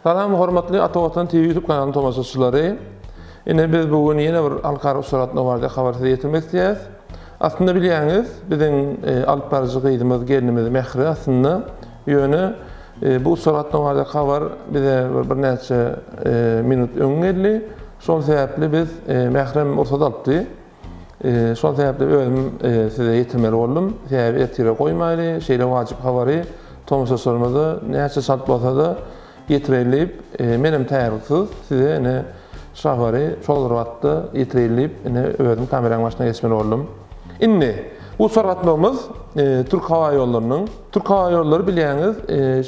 Salam hormatly Ata Watan TV YouTube kanalynyň tomaşaçylary. Ine biz bu gün ýene bir halkara uçratma barada habar size ýetirmek isleýäris. Aslynda bilýäňiz, biziň e, alyp baryjy gyzymyz, gelinimiz Mähri aslynda ýöne e, bu uçratma barada habar bize bir näçe e, minut öň geldi. Şol sebäpli biz Mährem rugsat alypdy. Şol sebäpli özüm size ýetirmeli boldum. Sebäbi ertire goýmaýly, şeýle wajyp habary tomaşaçylarymyza näçe çalt bolsa-da ýetireýin diýip, menem taýýarlyksyz size ine şu habary şol bir wagtda ýetireýin diýip, ine özüm kameraň başyna geçmeli boldum. Indi, bu uçar gatnawymyz Türk howa ýollarynyň. Türk howa ýollary bilýäňiz,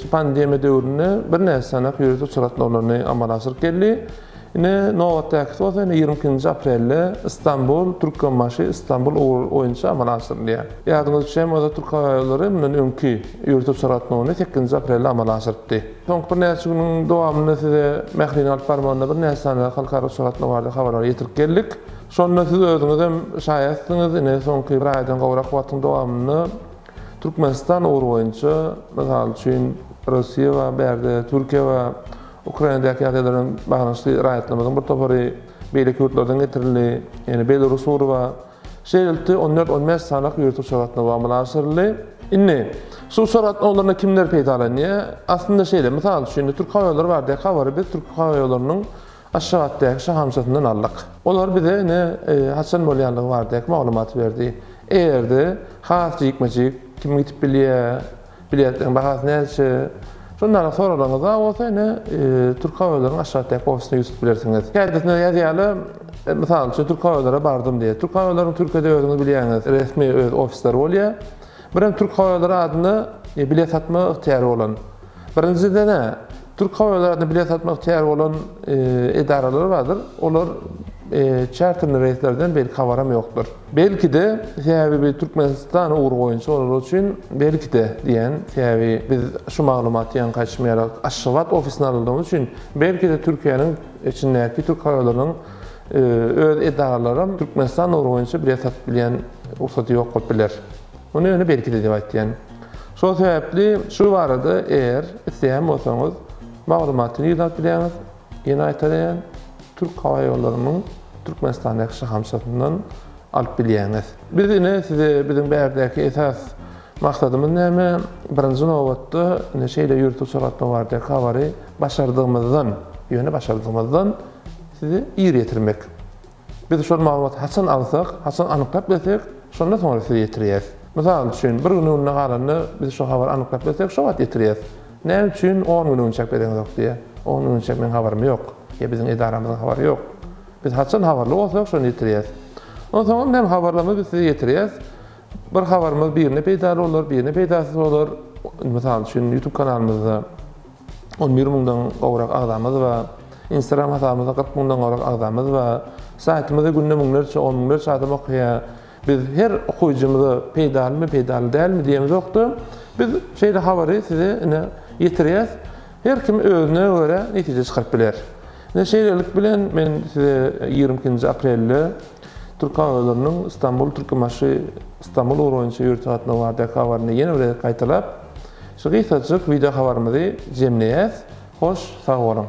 şu pandemiýa döwründe birnäçe sanak ýörite uçar gatnawlaryny amala aşyryp geldi. Ine, nobatdakysy bolsa ine ýigrimi ikinji aprelde Stambul, Türkmenbaşy, Stambul ugry boýunça amala aşyrylýar. Ýadyňyz üçem bolsa Türk hava ýollary mundan öňki ýurt uçar gatnawyny sekizinji aprelde amala aşyrypdy. Soňky birnäçe günüň dowamynda size Mähriň alyp barmagynda birnäçe sanda halkara uçar gatnawy barada habarlary ýetirip geldik. Şonda siz özüňizem şaýatsyňyz, ine soňky bir aýdan gowrak wagtyň dowamynda Türkmenistan ugry boýunça, mysal üçin, Russiýa bar bu ýerde, Türkiýe bar, Ukrainadaky ýagdaý bilen baglanyşykly raýatlarymyzyň bir topary beýleki ýurtlardan getirildi, ýagny Belarus urba. Şeýlelikde, on dört, on bäş sanaky ýurt uçar gatnawy amala aşyryldy. Indi, şu uçar gatnawlaryndan kimler peýdalanýar? Aslynda şeýle, mysal üçin, indi Türkhowaýollary baradaky habary biz Türkhowaýollarynyň Aşgabatdaky şahamçasyndan aldyk. Olar bize ine, haçan bolýandygy baradaky maglumaty berdi. Erdi, has jikme-jik, kim gidip bilýär, Biletleriň bahasy näçe? Şuny ara soralaryňyzda bolsa ine Türk hava ýollarynyň aşakdaky ofisyna ýüz tutup bilersiňiz. Käbirinde ýazýarlar, mysal üçin Türk hava ýollary bardym diýýär. Türk hava ýollarynyň Türkiýede özüňiz bilýäňiz resmi öz ofisleri bolýar. Birem Türk hava ýollary adynda bilet satma ygtyýary bolan. Birinjide nä? Türk howa yolaryna bilet satmak ihtýary bolan edaralar bardyr. Olar çarterli reýslerden belki habaram ýokdur. Belki-de, sebäbi biz Türkmenistan ugry boýunça olar üçin belki-de diýýän, sebäbi biz şu maglumaty ýaňky aýtşym ýaly Aşgabat ofisine alyndygy üçin, belki-de Türkiýäniň içindäki Türk howa yolarynyň öz edaralaram Türkmenistan ugry boýunça bilet satyp bilýän rugsady ýok bolup biler. Muny ýöne belki-de diýip aýtýan. Şol sebäpli şu barada eger isleýän bolsaňyz maglumatyny ýygnap bilýäňiz. Ýene gaýtalaýan, Türk howa ýollarynyň Türkmenistandaky şahamçasyndan alyp bilýäňiz. Biz ine size biziň bärdäki esas maksadymyz näme, birinji nobatda ine şeýle ýurt uçratmak baradaky habary başardygymyzdan, ýöne başardygymyzdan size ir ýetirmek. Biz şol maglumaty haçan alsak, haçan anyklap bilsek, şonda soňra size ýetirýäs. Mysal üçin, bir gün öňüne galanda biz şo habary anyklap bilsek, şo wagt ýetirýäs. Näme üçin on gün öň çap bereňzok diýýä. On gün öň çap meň habarym ýok. Ýa biziň edaramyzyň habary ýok. Biz haçan habarly bolsak, şonda ýetirýäs. Onsoňam näme habarlarymyzy biz size ýetirýäs. Bir habarymyz birine peýdaly bolar, birine peýdasyz bolar. Mysal üçin, YouTube kanalymyzda On bir müňden gowrak agzamyz bar. Instagram hasabymyzda kyrk müňden gowrak agzamyz bar. Saýtymyzy günde müňlerçe, on müňlerçe adam okaýar. Biz her okyjymyza peýdalymy, peýdaly dälmi diýemzok-da, biz şeýle habary size ine ýetirýäs. Her kim özüne görä netije çykaryp biler. Ine şeýlelik bilen men size ýigrimi ikinji aprelde Türkawtoularynyň Stambul-Türkmenbaşy-Stambul ugry boýunça ýörite gatnaw baradaky habaryny ýene bir gezek gaýtalap, Şu gysgajyk wideo habarymyzy jemleýäs, hoş sag boluň.